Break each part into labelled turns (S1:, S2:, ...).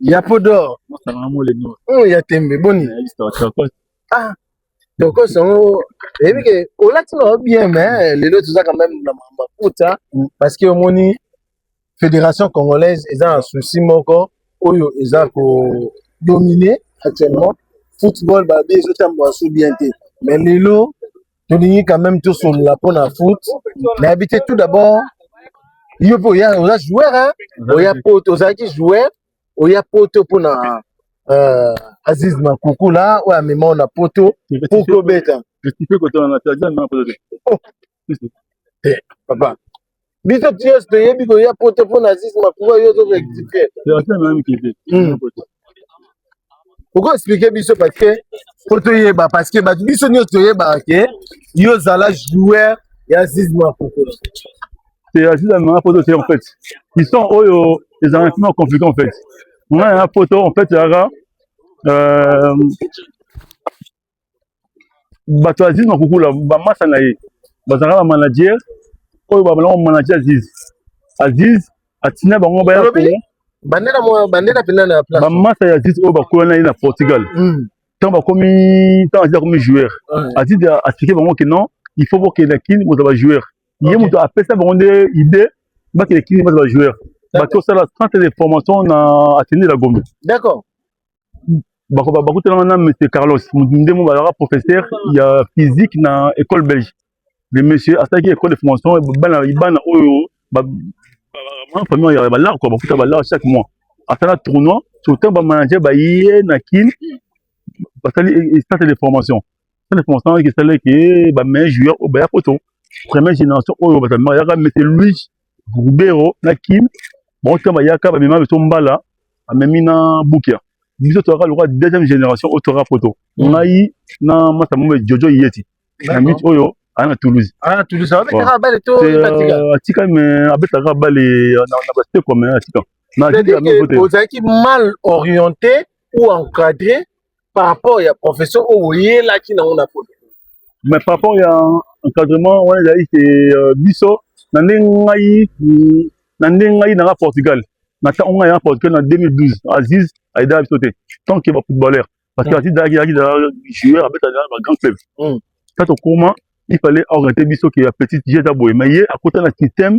S1: ya podor oyo ya tembe boni ah tokos yango eyebi ke olati nao bien mais lelo toza quand même na makambo ya puta parce que omoni fédération congolaise eza na souci moko oyo eza ko dominer actuellement football babi ezotambwa so bien te mais lelo tolingi quand même tosolola mpo na foot nayebi te tout d'abord yo mpe oya oza joueur hein? oya poto ozalaki joueur oya poto mpo na euh, aziz makukula oyo amema na poto mpo kobeta papa biso tios toyebi koya poto mpo na zis makuba yo ozo rectifier hmm. okoexplike biso parce que mpo toyeba parce que bato biso nyonso toyebaka ke yo ozala joueur ya zis makuba c'est
S2: ya zis amemaka poto te en fait histoire oyo ezalaka mpima compliqué en fait ngai ya poto en fait ezalaka euh, bato ya azizi makukula bamasa na ye bazalaka ba manager oyo babalaka manager azizi azizi atina bango baya kuna bandela mwa
S1: bandela pena na place bamasa ya azizi oyo bakola
S2: na ye na portugal mm. ntango bakomi ntango azizi akomi joueur mm. azizi aexplike bango ke non il faut bokenda kini bozala ba joueur ye moto apesa bango nde idée bakende kini bazala ba joueur bato osala centre de formation na atene la gombe d'accord bakutanaka na monsieur carlos nde mo bazalaka professeur ya physique na école belge le monsieur asalaki école de formation bana bana oyo famille ya balare kua bakuta balare chaque mois asala tournoi surtout bamanager baye na kin basali centre de formation ça ne pense pas que ça leke eh, ba meilleurs joueurs au baya poto première génération oyo oh, batamema yaka monsieur Luis Rubero na Kim bon temps bayaka ba mema beto mbala amemi na Bukia biso toyaka lokola deuxième génération oyo toyaka poto mm. ngai na masa mombe Jojo Yeti na miti oyo oh, aya na toulouse aya ah, na toulouse abetaka
S1: bale to euh, atika me
S2: abetaka bale euh, na baseko me atika
S1: ozalaki mal orienté ou encadré par rapport ya profession oyo oyelaki nango na poto mais par rapport
S2: ya encadrement wana ezali ke euh, biso na ndenge ngai na ndenge ngai nanga portugal na ntango ngai nanga portugal na 2012 aziz ayedaka biso te tant ke bafootballeur parce que mm. aziz ayaki ayaki joueur abetaka na bagrand club mm. ta tokoma il fallait orienter biso ke ya petite je eza boye mais ye akota na système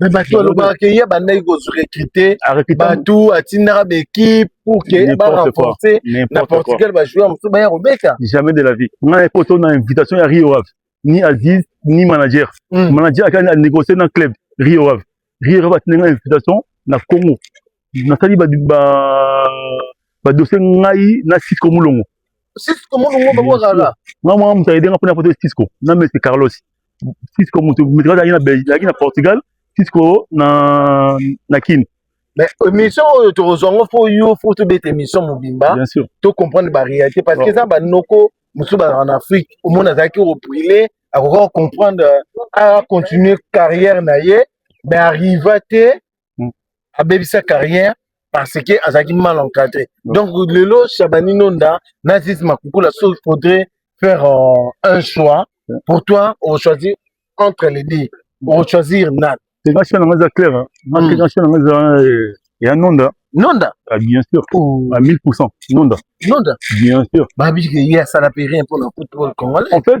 S1: mais bato alobaka ke ye bandaki korecrute bato atindaka baekipe pour ke barenforce na portugal bajoueur mosusu baya kobeta jamais de la vie ngai
S2: poto na invitation ya rio ave ni aziz ni manager hmm. manager akani anégocie na club rio ave rio ave atindi ngai invitation na congo nasali ba ba ba dossier ngai na Cisco Mulongo Cisco Mulongo
S1: ba kwa kala nga mwa mutaye denga
S2: pona photo Cisco na Messi Carlos Cisco mutu mutu kala na Belgique na Portugal Cisco na na Kin mais
S1: émission oyo tokozwa ngo fo yo fo tobeta émission mobimba to comprendre
S2: ba réalité
S1: parce que eza banoko mosusu bazalaka na afrique omona azalaki orile akoka kocomprendre a continuer carrière na ye mais arriva te abebisa carrière parce que azalaki mal encadré donc lelo shabani nonda na zizi makukula so faudrait faire euh, un choix pour toi ochoisir entre les deux ochoisir nan nga choix nanga eza clair
S2: nga choix nanga eza ya nonda nonda ah, bien
S1: sûr oh.
S2: à 1000 nonda nonda bien sûr babiki ye asala
S1: pe rien mpona football congolais en fait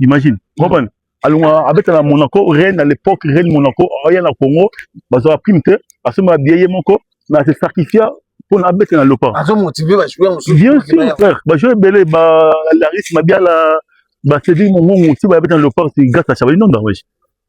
S2: imagine comprendre alonga abeta na monaco reine à l'époque reine monaco aya na congo bazwaka prime te asomba biye ye moko na se sacrifia mpo na abeta na lopa
S1: bien sûr frère
S2: bajoueur ebele balaris mabiala basedil mongongo si bayabeta na lopa si grâce à chabali nonda wesh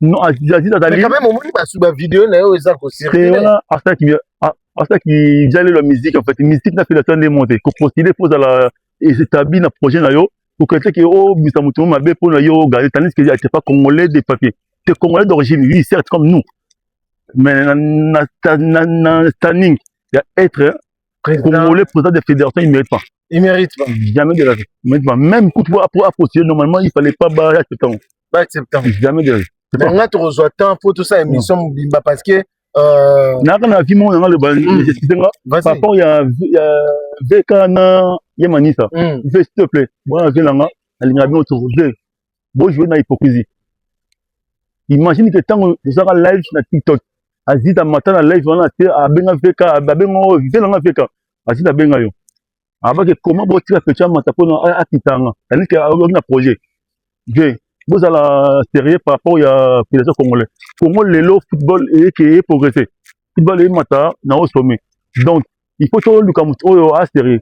S2: Non, Aziza ah, azali. Mais quand même, omoni ba suba
S1: vidéo na yo eza ko circuler. Wana asa ki
S2: asa ki jale la musique en fait, musique na fela tande monte. Ko postuler pour la établir na projet na yo. Ko kete ke oh bisa mutu mabe pour na yo garder tandis que c'est pas congolais de papier. T'es congolais d'origine, oui, certes comme nous. Mais na na na, na standing ya être hein, président. congolais président de fédération, il mérite pas. Il mérite pas.
S1: Jamais de la vie. Il mérite
S2: pas. Même coup pour pour approcher normalement, il fallait pas barrer ce temps. ba accepta
S1: jamais de
S2: banga tokozwa
S1: temps mpo tosala émission mobimba parce que euh, naka na
S2: vie moko nanga loba hmm. excuse nga par rapport ya vk na ye manisa hmm. ve s'il te plaît bwana vie nanga alingaka bino toko ve bojoue na hypocrisie imagine ke ntango tozalaka live na tiktok azita mata na live wana te abenga vk abenga ve nanga vk azita abenga yo abaki koma botika pecha mata mpona akitanga aliki aoki na projet je bozala sérieux par rapport ya fédération congolais congo lelo football eyeke eye progresse football eyemata na o sommet donc il faut toluka moto oyo asérieux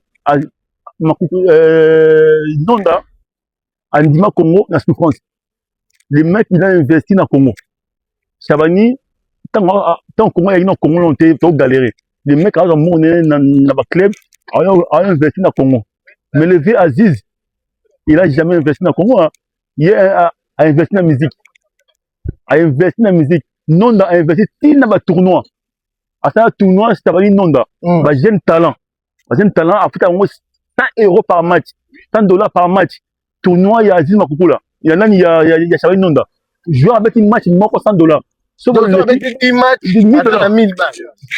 S2: nonda andima Congo na souffrance le mec il a investi na Congo Chabani ntango ah, ah, Congo ayaki na Congo lon te to galere le mec aza mone na, na ba club a investi na Congo mais le vieux Aziz il a jamais investi na Congo hein. ye a, a investi na musique a investi na musique Nonda a investi ti na ba tournois asala tournoi Chabani Nonda mm. ba jeune talent bazali talent afuta yango 100 euro par match 100 dollars par match tournoi ya azili makukula ya nani ya, ya, ya Charles Nonda joueur abeti match moko 100 dollars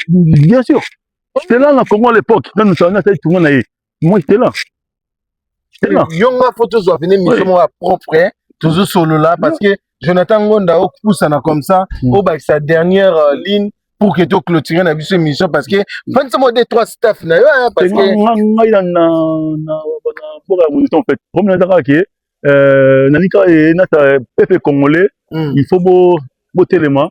S2: bien sûr
S1: c'est
S2: là na Congo à l'époque nanu ça na sali tournoi na ye moi j'étais là
S1: yo nga fo tozwa pene miso moko ya propre hein. tozo solola parce que jonathan ngonda opusana comme ça hmm. obakisa dernière euh, ligne pour que toclôture na biso émission parce que mpanisa mwa de trois staff na yo hein, parce que ngai na na na mboka
S2: ya monition en fait problème ezaka ke euh, nanika ye nata pepe congolais hmm. il faut bo botelema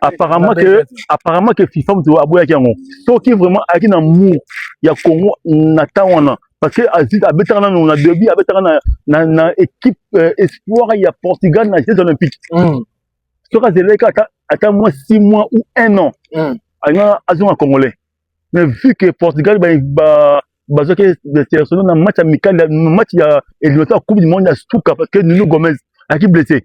S2: apparemment que apparemment que FIFA moto aboyaki yango soki vraiment ayaki na mur ya Congo na temps wana parce que azit abetaka nanu na début abetaka na, na, na équipe euh, espoir ya Portugal na Jeux olympiques mm. soki azelaki ata ata moins six mois ou un an mm. alingaka azonga congolais mais vu que Portugal ba, ba bazwaki sélectionné na match amical match ya éliminatoire coupe du monde ya suka parce que Nuno Gomez ayaki blessé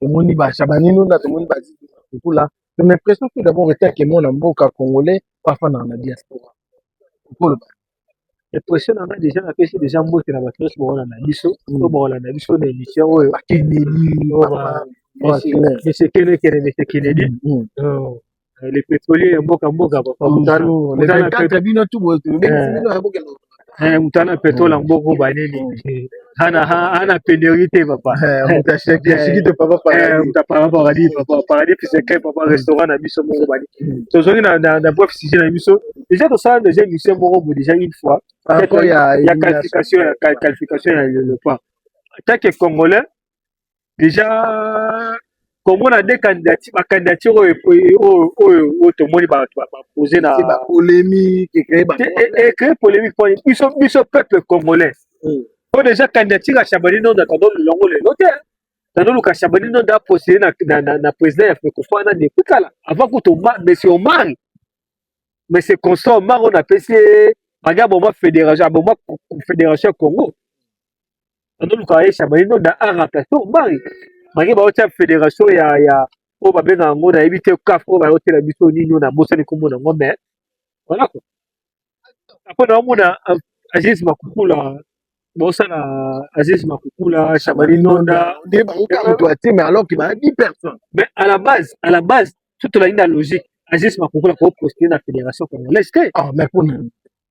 S1: tomoni ba shabanino na tomoni ba kukula ton impression tout d'abord était que mwana mboka congolais bafandaka na diaspora okoloba
S3: impression na ngai deja napesi deja mbote na bato nyonso bakolanda biso to bakolanda biso na émission oyo akendeli Monsieur Kene Kene, Monsieur Kennedy. Mm. Oh. Eh, les pétroliers ya mboka mboka papa mutana mutana pétrole bino tu boye tu bino ya mboka eh mutana pétrole ya mboka ba nini hana hana pénurie te papa mutashaki ashiki te papa paradis muta papa paradis papa paradis puis c'est papa restaurant na biso moko ba nini tozongi na na bref sujet na biso déjà to sala déjà émission moko bo déjà une fois ya qualification ya qualification ya l'Europa tant que congolais deja congo na de candidature ba candidature oyo oyo oyo oyo tomoni ba ba poser na ba polemique
S1: et créer ba et
S3: créer polemique pour biso biso peuple congolais hmm. po deja candidature ya Chabani non da tando longo le note tando luka Chabani non da poser na na na président ya Fekofa na de kala avant que to monsieur Omar mais c'est constant Omar on a payé baga boma fédération boma fédération Congo anoluka aisha baino da ara plateau mbai maki baotia federation ya ya oyo babenga yango nayebi te kaf oyo bayotela biso nini oyo nabosani nkombo na yango mais voilà quoi apres naomona aziz makukula bosala aziz makukula shabani nonda nde bayoka moto ya te mais
S1: alors ke bayebi personne mais à la base
S3: à la base tutolaki na logique aziz makukula koposte na fédération congolaise te ah mais mpona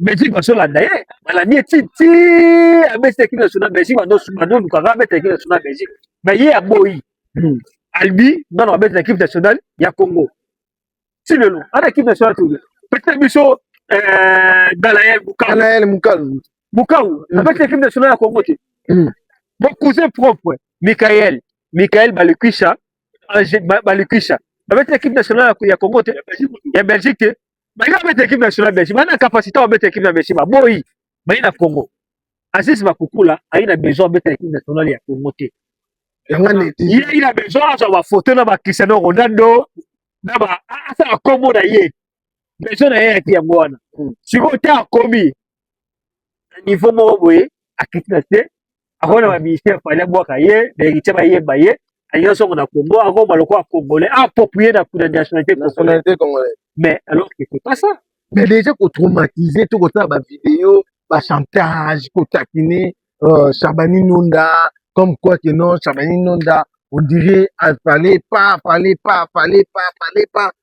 S3: Belgique bazolanda ye balandi ye ti ti abeti ekipe national Belgique bazolukaka abeta ekipe national Belgique me ye aboyi hmm. albi nano abeti na ekipe nationale ya Congo ti lelo ana ekipe nationale toyo peut-être biso euh, Galaël Mukau Galaël Mukau Mukau hmm. abeti ekipe nationale ya Congo te hmm. mon cousin propre Michael Michael Balukisha Balukisha babeti ekipe nationale ya Congo te ya Belgique te Baye babeta equipe nationale Belgique, bana capacité babeta equipe na Belgique, baboyi baye na Congo. Aziz Bakukula aye na besoin abeta equipe nationale ya Congo te. Ye aye na besoin azwa ba photo na ba Cristiano Ronaldo na ba asala kombo na ye. Besoin na ye yaki yango wana. Hmm. Sikoyo te akomi na niveau moko boye akiti na se akona ba ministère fallait bwaka ye ba héritier ba yeba ye alingi songo na Congo akoma lokola congolais approprié na kuna nationalité nationalité congolais
S1: mais alors que c'est
S3: pas ça mais déjà ko
S1: traumatiser to kosala ba vidéo ba chantage ko taquiner euh, Shabani Nonda comme quoi que non Shabani Nonda on dirait fallait pas fallait pas fallait pas fallait pas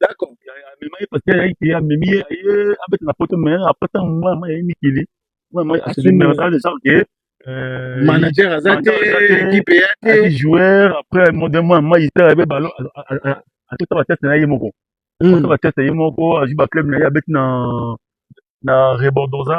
S2: D'accord, amema ye parce que ayaki te amemi ye aye abeta na poto mais après ntango mwa mwa yaye mikili mwa mwa asali mais asala deja ke manager
S1: aza te ekipe ya te ayi joueur après
S2: mode mwa mwa yisala abe balo atota bateste na ye moko atota bateste ye moko azwi baclub na ye abeti na na rebordosa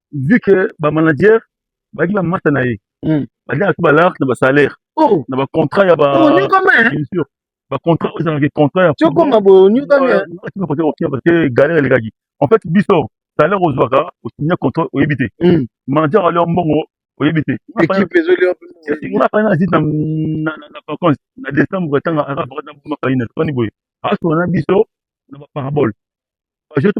S2: vu que ba manager bazalaki ba masta na ye hmm. bazalaki tout ba large na ba salaire oh. na ba contrat ya ba oh, bien sûr ba contrat oyo ezalaki contrat ya tokoma boye
S1: onyokami parce que
S2: galère elekaki en fait biso salaire ozwaka osinya contrat oyebi te hmm. manager alio mbongo oyebi te nga
S1: fani na zite
S2: na vacance na décembre ntanga aka vacance na buma fani na fani boye asona na biso na ba parabole bajetu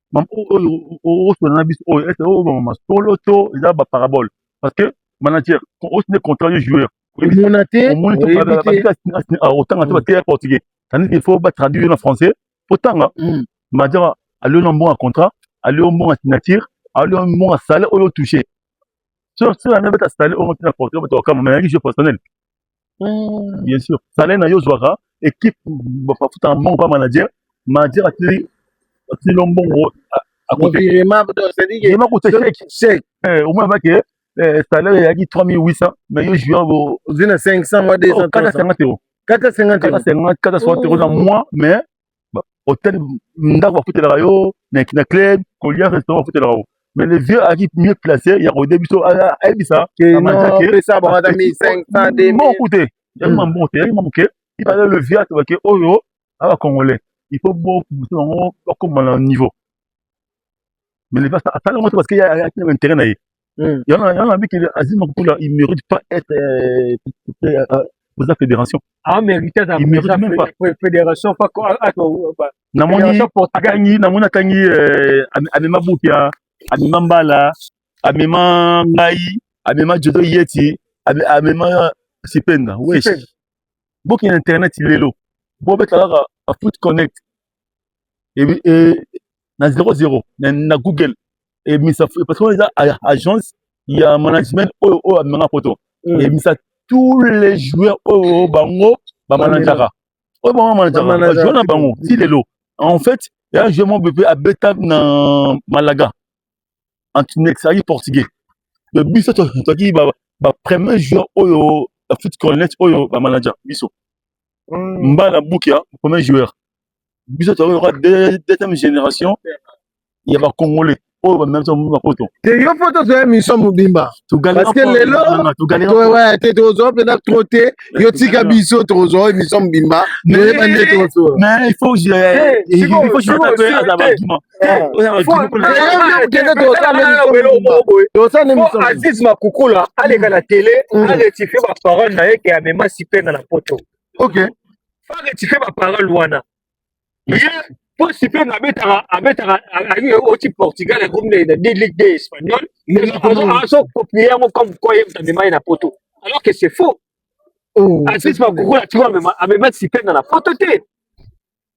S2: Maman oyo osolola na biso oyo ese oyo bamama solo to eza ba parabole parce que manager osi nde contrat yo joueur omona te omoni
S1: to oyebi parabole te babika
S2: asini a otanga te Mm. bateya portugais tandis qu'il faut ba traduire yo na français otanga Mm. majama alio na mbongo ya contrat alio mbongo ya signature alio mbongo ya salaire oyo otouche so so yango beta salaire oyo otina portugais bato okama mais yangi jeu personnel mm. bien sûr salaire na yo ozwaka équipe bafuta na mbongo pa manager manager atili atili yo mbongo omona bake salaire eyaki 3800 mais yo juin ozwi na 500 mwa 200
S1: kata 50 euro
S2: kata
S1: 50 euro na mois
S2: mais hotel ndako bafutelaka yo na club kolia restaurant bafutelaka yo mais le vieux aki mieux placé ya koyede biso ayebisa
S1: moko te yaki
S2: ma moko te yaki ma moke ibale le vieux atobake oyo aba congolais il faut bokusa yango bakoma na niveau mais le pasta asala yango te parce que ayaki na intérêt na ye hmm. yana yana abiki azima kopula il mérite pas être euh, euh, euh, oza fédération
S3: ah,
S2: fédération
S3: namoni
S2: akangi namoni akangi amema bupia amema mbala amema ngai amema jodo yeti amema sipenda wesh boki na internet lelo bobeta kaka foot connect na 00 na, na google ebimisa eh, parce que wana eza agence ya management oyo oyo amemanga poto mm. ebimisa eh, tous les joueurs oyo bango bamanajaka oyo bango bamanajaka bajoueur na bango ti lelo en fait ya joueur moko mpe abeta na malaga antinex azalaki portugais me biso tozalaki bapremier joueur oyo ya foot cornet oyo bamanaja biso mm. mbala buki ya premier joueur biso tozali lokola deuxième génération ya bacongolais oyo bamema biso mobimba poto te yo fo tozwa
S1: émission mobimba parceke lelo te tozwa mpena tro te yo tika biso tozwa émission mobimba toyeba nde
S2: tozoaza baargument
S3: aziz makukula aleka na tele mm. arectifie baparole na ye ke amema sipenga na poto arectifie
S1: baparole
S3: wana ye mpo sipenga abetaka abetaka oti portugal akomi na ligue de espagnol azokopie yango comme koi ye amema ye na poto alors que c'est faux oh, aziz makukula tiko amema sipenga na poto te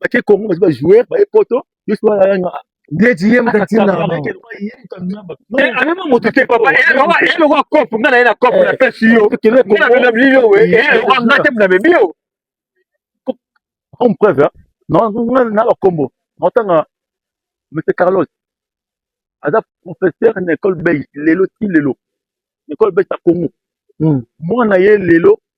S2: bake congo baza ba joueur baye poto ndeti ye
S1: mokatiamema
S3: moto te papa elokwa cop nga na ye na cop na pesi yo nabinabili yo nga te namemi yo
S2: comme preuve na bakombo naotanga monsieur carlos aza professeur na école belge lelo ti lelo école belge ya congo mwana ye lelo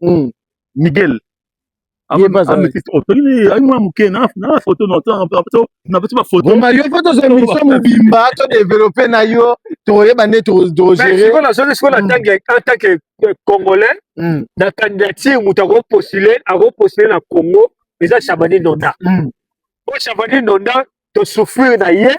S2: mm. miguel mario fo tozwa émission
S1: mobimba to développe na yo tokoyeba nde togereantanke
S3: congolais hmm. na candidature moto akopostule akopostule na congo eza chabani nonda po hmm. chabani nonda tosouffrir na ye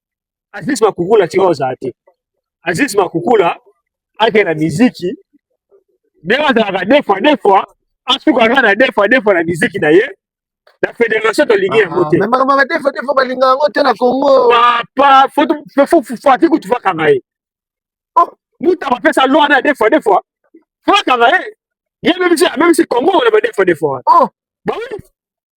S3: Aziz Makukula tika ozala te. Aziz Makukula ake na miziki ndenge azalaka deux fois deux fois asuka kaka na deux fois deux fois na miziki na ye na federation tolingi ah, yango te ah, makambo ya deux
S1: fois deux fois balinga yango te
S3: na Congo papa fati kutu fakanga ye oh, mutu abapesa loi na deux fois deux fois fakanga ye ye meme si meme si Congo na ba deux fois deux fois oh bah oui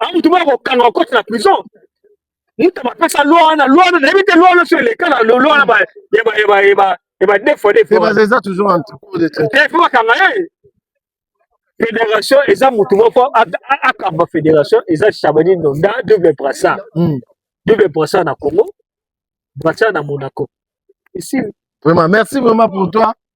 S3: Ah, mutu moko akokanga okoti na prison mutu bapesa loi wana loi wana nayebi te loi wana so eleka na loi wana ba deux fois deux fois eza toujours en
S1: cours de traite il faut bakanga ye
S3: fédération eza mutu moko akamba fédération eza chabani ndonda double brassa hmm. double brassa na congo brassa na monaco ici vraiment merci
S1: vraiment pour toi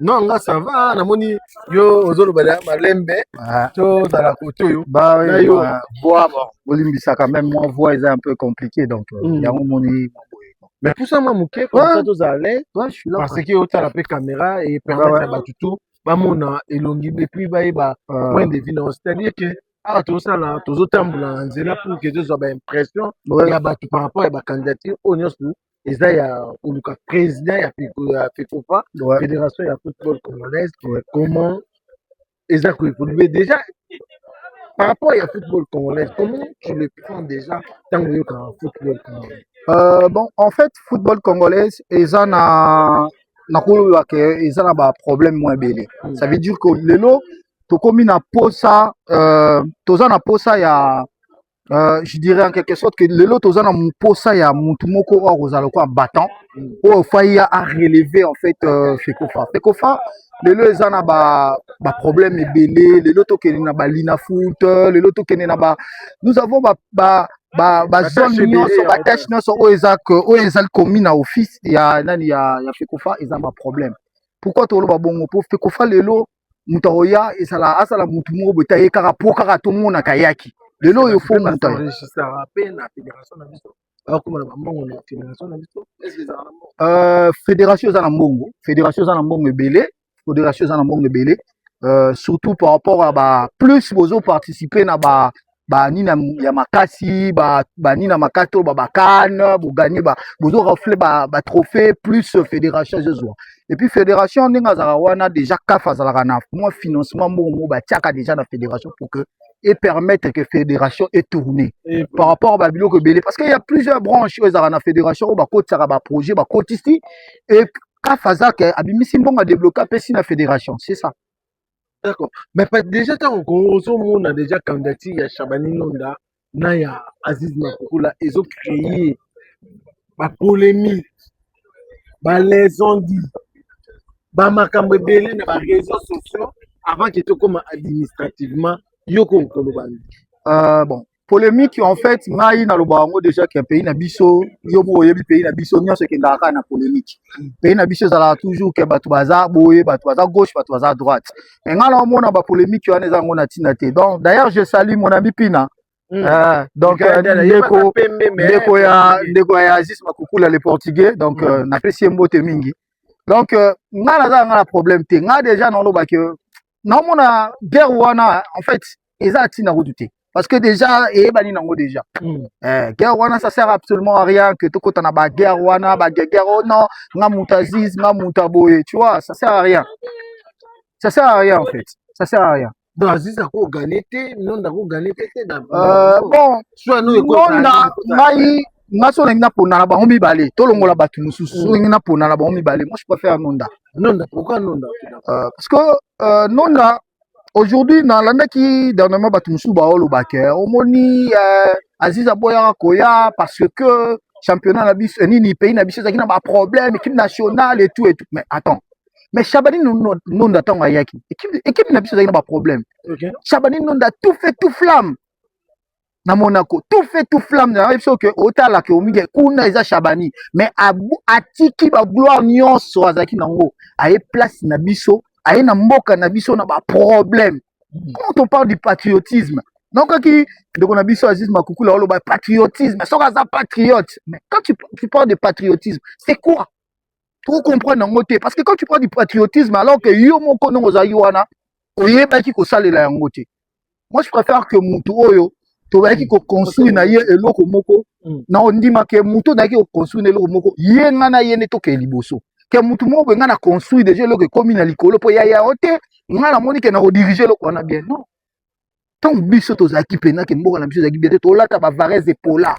S4: non nga ça va
S1: namoni yo ozoloba ya malembe ah. tozala kote oyo nayo voix
S4: olimbisaka meme mwa voix eza un peu compliqué donc euh, hmm. yango omoni mais pusa
S1: mwa moke komsa tozala parce que
S4: otala mpe caméra
S1: e permettre ya bato to bamona elongi epuis bayeba ah. point de vie nao c'est à dire que awa tozosala tozotambola na nzela pour que tozwa baimpression ya bato par rapport ya bacandidature oyo nyonso eza ya koluka président ya fecofa ouais. fédération ya football congolaise ouais. comment eza koévolue déjà par rapport ya football congolaise comment tu le prends déjà ntango oyokaka football congolaise euh, bon en
S4: fait football congolaise eza na nakoloba ke eza na baproblème mwa ebele mm. ça veut dire que lelo tokomi na posa euh, toza na posa ya Euh, je dirais en quelque sorte que lelo toza na mposa ya mutu moko oyo akozala lokola battant oyo fai a relever en fait euh, fekofa fekofa lelo eza na ba ba problème ebele lelo tokende na ba lina foot lelo tokende na ba nous avons ba, ba ba ba zone nyonso ba tâche nyonso oyo eza oyo ezali komi na office ya nani ya ya fekofa eza ba problème pourquoi toloba bongo po fekofa lelo moto akoya ezala azala motu moko boye te aye kaka mpo kaka tomonaka ayaki lelo oyo fo moto euh, fédération eza na mbongo fédération eza na mbongo ebele fédération eza na mbongo ebele euh, surtout par rapport ya ba plus bozo participer na ba banina ya makasi banina ba makasi oyo babakane boganie bozo rafle batrophée ba plus fédération ezozwa epuis fédération ndenge azalaka wana déjà caf azalaka na mwa financement mbongo moko batiaka déjà na fédération pour que et permettre que fédération est tournée et par rapport à babiloko ebele parce qu'il y a plusieurs branches oyo ezalaka na fédération oyo bakotisaka baprojet bakotisi et caf azake abimisi mbongo adebloke apesi na fédération c'est ça D'accord.
S1: Mais pas déjà ntango Congo ozomona déjà candidature ya Shabani Londa na ya Aziz Makukula ezo créer ba polemique, ba lesondi, ba makambo ebele na ba réseaux sociaux avant que tokoma administrativement yo ko koloba nini? Euh,
S4: bon, polemique en fait ngai nalobaka yango déjà ke pays na biso yo moko oyebi pays na biso nyonso ekendaka kaka na polemique pays na biso ezalaka toujours ke bato baza boye bato baza gauche bato baza droite mais ngai naomona bapolémique wana eza yango na ntina te donc d'ailleurs je salue mon ami pina Mm. Uh, donc euh, ndeko ndeko ya ndeko ya Aziz Makukula le portugais donc mm. euh, napesi ye mbote mingi donc euh, ngai naza ngai na problème te ngai déjà nalobaki naomona guerre wana en fait eza atina kutu te parce que déjà eyebani nango déjà mm. eh, guerre wana ça sert absolument à rien que tokota na ba guerre wana ba guerre oh non nga muta ziz nga muta boye tu vois ça sert à rien ça sert à rien en fait ça sert à rien donc aziz akogane
S1: te nonda akogane te
S4: te euh, bon nonda ngai nga so olingi napona na bango mibale tolongola bato mosusu so olingi napona na bango mibale moi je préfère nonda nonda pourquoi nonda
S1: euh, parce que
S4: euh, nonda aujourd'hui nalandaki dernièrement bato mosusu baoloba ke omoni euh, aziz aboyaka koya parce que championnat na biso nini pays na biso ezalaki na baproblème équipe nationale et tout et tout mais attends mais Chabani Nonda ntango ayaki équipe na biso ezalaki na baproblème okay. Chabani Nonda tout fait tout flamme na Monaco tout fait tout flamme na yebi soki otala ke omike kuna eza Shabani mais atiki ba gloire nyonso azalaki nango aye place na biso aye na mboka na biso na ba problème hmm. quand on parle du patriotisme nokaki ndeko na biso Aziz Makukula oloba patriotisme soki aza patriote mais quand tu, tu parles de patriotisme c'est quoi to comprendre yango te parce que quand tu prends du patriotisme alors que yo moko ndongo ozalaki wana oyebaki kosalela yango te moi je préfère que motu oyo toyaki koconstruire na ye eloko moko mm. na ondima ke motu oyo nayaki koconstruire na eloko moko ye ngai na ye nde tokee liboso ke motu moko boye ngai na construire deja eloko ekomi na likolo mpo ya yao te ngai namoni ke na kodirige eloko wana bien non ntango biso tozalaki mpena ke mboka na biso ezalaki bien te tolata bavarese epola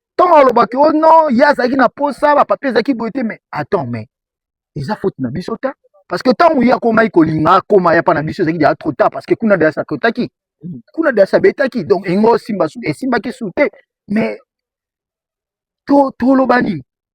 S4: ntango alobaki o oh no ye azalaki na mposa bapapie ezalaki boye te mais attends mais eza faute na biso ta parce que ntango ye akomaki kolinga akoma ya mpa na biso ezalaki deja trop tard parce que kuna deja sakotaki kuna deja sabetaki donc engo esimba esimbaki su te mais toloba nini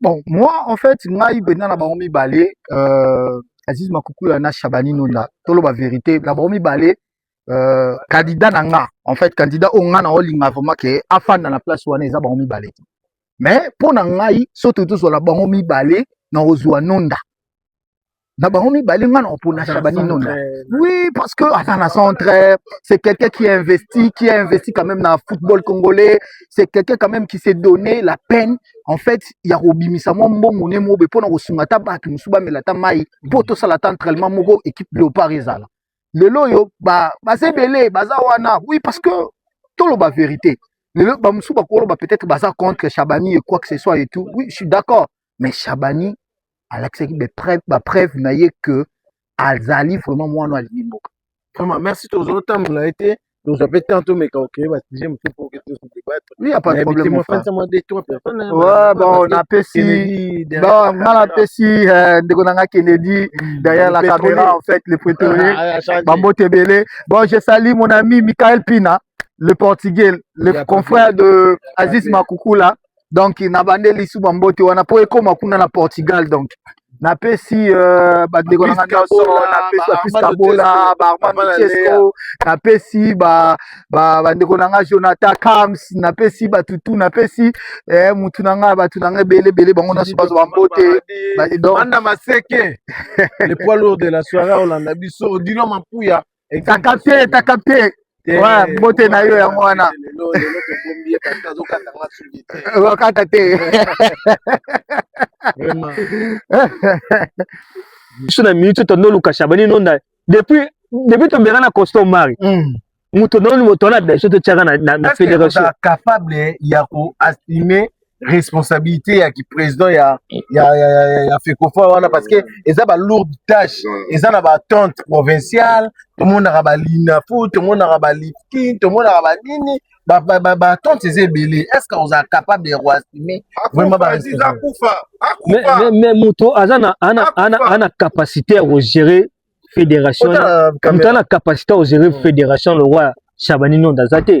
S1: bon moi en
S4: fait ngai benda na bango mibale euh, aziz makukula na shabani nonda toloba verité na bango mibale euh, candidat na nga en fait candidat oyo nga na olinga vraiment ke afanda na place wana eza bango mibale te mais mpo na ngai soki tozwala bango mibale na kozwa nonda na bango mibale nga na opona shabani nona oui parce que aza na centre c'est quelqu'un qui a investi qui a investi quand même na football congolais c'est quelqu'un quand même qui s'est donné la peine en fait ya kobimisa mwa mbongo ne mobe mpo na kosunga ata bato mosusu bamela ata mai mpo tosala ata entraînement moko équipe léopard ezala lelo oyo baza ebele baza wana oui parce que toloba vérité lelo bamosusu bakoloba peut-être baza contre shabani et quoi que ce soit et tout oui je suis d'accord mais Shabani alakisaki ba preuve na ye que azali vraiment mwana wa limbo vraiment merci
S1: tozotambola ye te tozwa mpe temps tomeka okeye basujet mosusu po oke tosu debattre oui ya pas de problème
S4: mofansa mwa de trois
S1: personne bon
S4: napesi bon nga napesi euh, ndeko na nga kennedy hmm, derrière la caméra en fait le prétorier ah, ah, bambote ebele bon je sali mon ami michael pina le portugais le confrère de aziz makukula donc na bande lisu ba mbote wana po ekoma kuna na Portugal donc na pesi euh, ba ndeko na ngana so na pesi ba pisa bola ba Armando Chesco na pesi ba ba ba ndeko na nga Jonathan Kams na pesi ba tutu na pesi eh mutu na nga ba tu na nga bele bele bango na so ba ba mbote ba donc banda maseke
S1: le poids lourd de la soirée olanda biso dino mapuya etaka te
S4: etaka te mbote na yo yango wana okata te
S3: biso na minute tondo luka shabani nonda depuis depuis tobengana na costo mari hmm. moto noni moto wana biso totyaka na federation capable ya
S1: koastime responsabilité ya ki président ya ya ya, ya, ya fekofa wana parce que eza ba lourde tâche eza na ba tente provinciale tomonaka ba linafu tomonaka ba lifkin tomonaka ba nini ba ba ba, ba tente eza ebele est ce que oza capable de roasime vraiment ba akufa akufa
S3: mais mais moto aza na ana ana ana capacité ya gérer fédération moto ana capacité ya gérer fédération le roi Shabani Nonda aza te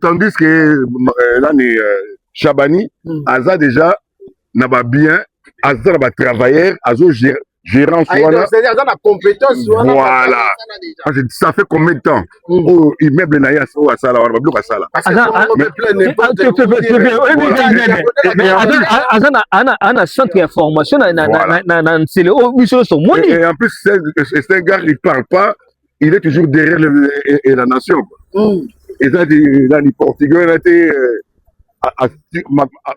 S5: tandis que euh, nani euh, shabani hmm. aza déjà na babien aza na batravailleur azo gérance ah, wana aza na
S1: compétence wana voilà
S5: parce que ça fait combien de temps hmm. oyo oh, immeuble na ye oyo asala wana babiloko asala
S3: aza na centre ya formation na nsele oyo biso nyonso omoni en plus c'est
S5: un gars il parle pas il est toujours derrière le, le, et, et la nation mm. eza nani portugais na te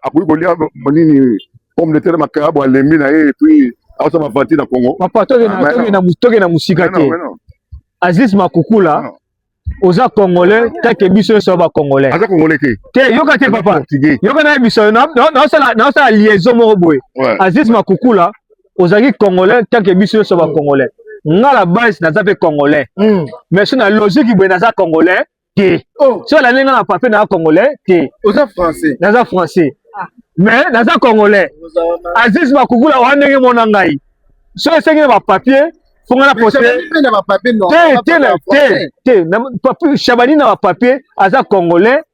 S5: akoki kolia nini pomme de terre makabo alembi na ye epuis aosa bavanti na congo papa toke ah, na
S3: mosika te aziz makukula oza congolais take biso nyonso ya bacongolais aza congolais te te
S5: yoka te papa
S3: yoka naye biso naosala liaison moko boye aziz makukula ozalaki congolais tanke biso nyonso ba congolais nga la base naza mpe congolais mm. mais so na logique boye naza congolais te oh. so alandi nga na papier naza congolais te oza français naza
S1: français ah.
S3: mais naza congolais aziz makukula oya ndenge mona ngai so esengi na bapapier fo nga na poste
S1: te te te
S3: shabani na bapapier aza congolais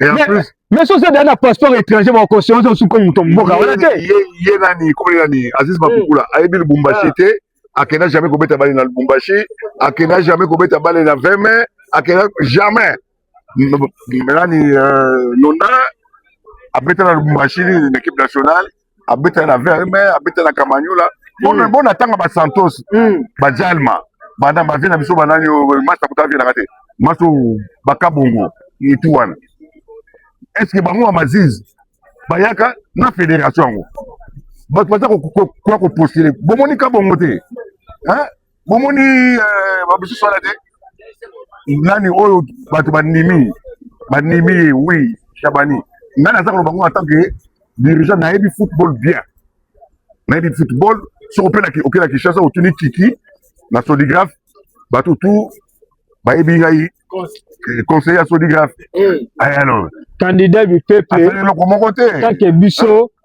S5: Et en plus, mais soki ozali na
S3: passeport étranger bakosio ozo suka moto mboka wana te ye nani
S5: komeli nani aziz makukula hmm. ayebi lubumbashi ah. te akenda jamais kobeta bale na lubumbashi akenda jamais kobeta bale na 20 mai akenda jamais nani euh, nona abeta na lubumbashi na équipe nationale abetela na verme abetela na kamanyola mm. bona tanga ba santos mm. ba jalma banda ba vie na biso banani euh, masta kuta vie na te maso bakabongo etu wana est ce que bango ya maziz bayaka na federation yango bato baza koya kopostule bomoni kabongo te bomoni eh, bamosusu wana te nani oyo bato banimi banimi ye wi shabani ngai naza koloba ngo en tant que dirigeant nayebi football bien nayebi football soki opena okela kinshasa otuni kiki na sodigraphe bato tu bayebi ngai eh, conseiller ya sodigraphe eh. eh, alors candidat du
S3: peuple eloko moko te kake biso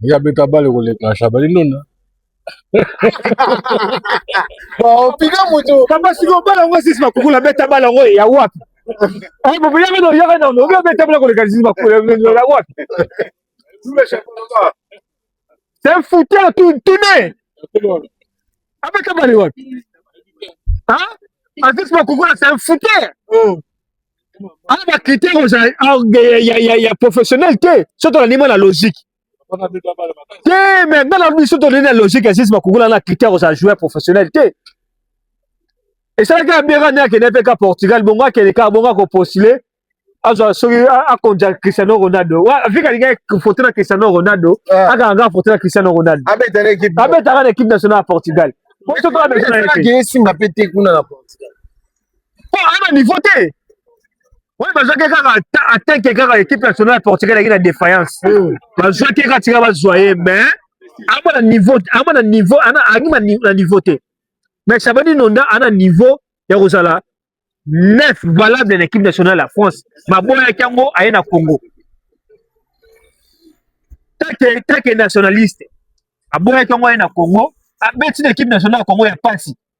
S1: ye
S2: abeta bale koleka shabali ndonda
S1: opika moto papa siko bala yango
S3: sisi makukula beta bala yango ya wapi boboyaka na oyaka nano obi obeta bala koleka sisi makukula ya wapi c'est un fouteur tout tourné abeta bale wapi azisi makukula c'est un fouteur ana ba critère oza ya professionnel te soki tolandi mwa na logique te mais nga na biso tolandi na logique ya sisi bakokuna na critère oza joueur professionnel te esalaki abera nde akende mpe ka portugal bongo akende kaka bongo akopostule azwa soki akonja cristiano ronaldo vika alingaki foto na cristiano ronaldo ah. akanga kaka foto na cristiano ronaldo abetaka na équipe nationale ya portugal esimba mpe te kuna na portugal po aza na niveau te oyo bazwaki kaka atake kaka équipe nationale ya portugal yaki na défaillance bazwaki kaka tika bazwa ye mais ama na niveau ama na niveau ana angi na niveau te mais chabani nonda ana niveau ya kozala neuf valable na équipe nationale ya france baboyaki yango aye na congo take take nationaliste aboyaki yango aye na congo abeti na équipe nationale ya congo ya pasi